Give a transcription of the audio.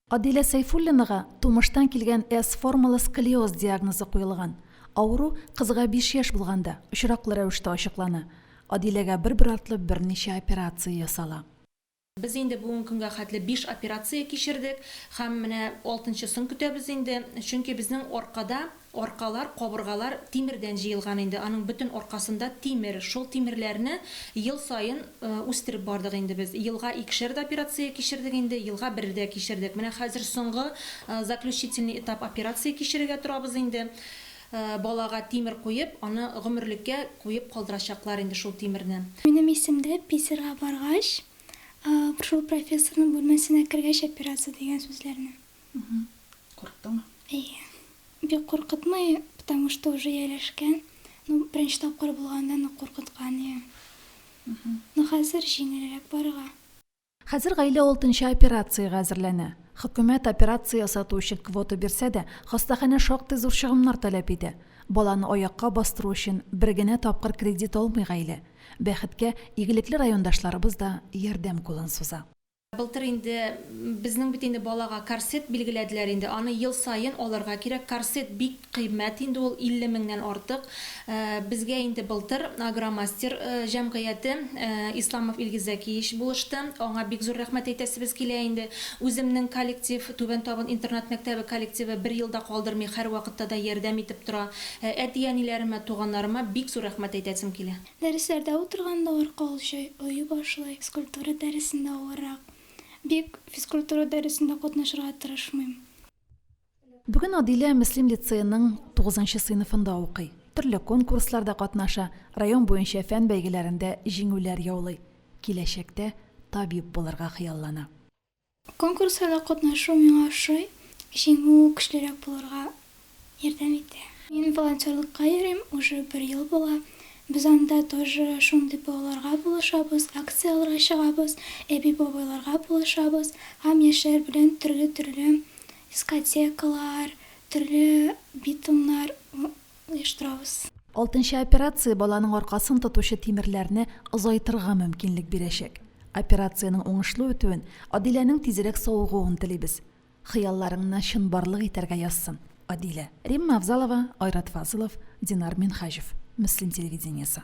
Адилә Сәйфуллинага тумыштан килгән S-формалы сколиоз диагнозы куелган. Авыру кызга биш яшь булганда, очраклы рәвештә ачыклана. Адиләгә бер-бер артлы берничә операция ясала. Без инде бүген көнгә хәтле биш операция кичердек һәм менә алтынчысын көтәбез инде, чөнки безнең аркада Аркалар, кабыргалар тимердән җыелган инде, аның бөтен аркасында тимер. Шул тимерләрне ел саен үстереп бардык инде без. Елга икешәр операция кичердек инде, елга бер дә кичердек. Менә хәзер соңгы заключительный этап операция кичерергә торабыз инде. Балага тимер куеп, аны гомерлеккә куеп калдырачаклар инде шул тимерне. Минем исемдә Питерга баргач, шул профессорның бүлмәсенә кергәч операция дигән сүзләрне. Угу. Курыктыңмы? Әйе. Бик куркытмый, потому что уже ияләшкән. Ну, беренче тапкыр булганда нык куркыткан иде. Угу. Ну, хәзер җиңелрәк барырга. Хәзер гаилә алтынчы операциягә әзерләнә. Хөкүмәт операция ясату өчен квота бирсә дә, хастаханә шактый зур чыгымнар таләп итә. Баланы аякка бастыру өчен бер генә тапкыр кредит алмый гаилә. Бәхеткә, игелекле райондашларыбыз да ярдәм кулын суза. Былтыр инде безнең бит инде балага корсет билгеләделәр инде, аны ел саен алырга кирәк, корсет бик кыйммәт инде ул, 50 меңнән артык. Безгә инде былтыр Агромастер җәмгыяте, Исламов Илгиз Зәкиевич булышты, аңа бик зур рәхмәт әйтәсебез килә инде. Үземнең коллектив, Түбән Табын интернат-мәктәбе коллективы бер ел да калдырмый, һәрвакытта да ярдәм итеп тора. Әти-әниләремә, туганнарыма бик зур рәхмәт әйтәсем килә. Дәресләрдә утырганда арка олчый, ою башлый, физкультура дәресендә авыррак. Бик физкультура дәресендә катнашырга тырышмыйм. Бүген Адилә Мөслим лицееның тугызынчы сыйныфында укый. Төрле конкурсларда катнаша, район буенча фән бәйгеләрендә җиңүләр яулый. Киләчәктә табиб булырга хыяллана. Конкурсларда катнашу миңа ошый, җиңү көчлерәк булырга ярдәм итә. Мин волонтерлыкка йөрим, уже бер ел була. Без анда тоже шундый балаларга булышабыз, акцияләргә чыгабыз, әби-бабайларга булышабыз һәм яшьләр белән төрле-төрле дискотекалар, төрле битумнар Штраус. Алтынчы операция баланың аркасын тотучы тимерләрне озайтырга мөмкинлек бирәчәк. Операциянең уңышлы үтүен, Адиләнең тизрәк савыгуын телибез. Хыялларыңны чынбарлык итәргә язсын, Адилә. Римма Авзалова, Айрат Фазылов, Динар Минһаҗев. Мөслим телевидениесе.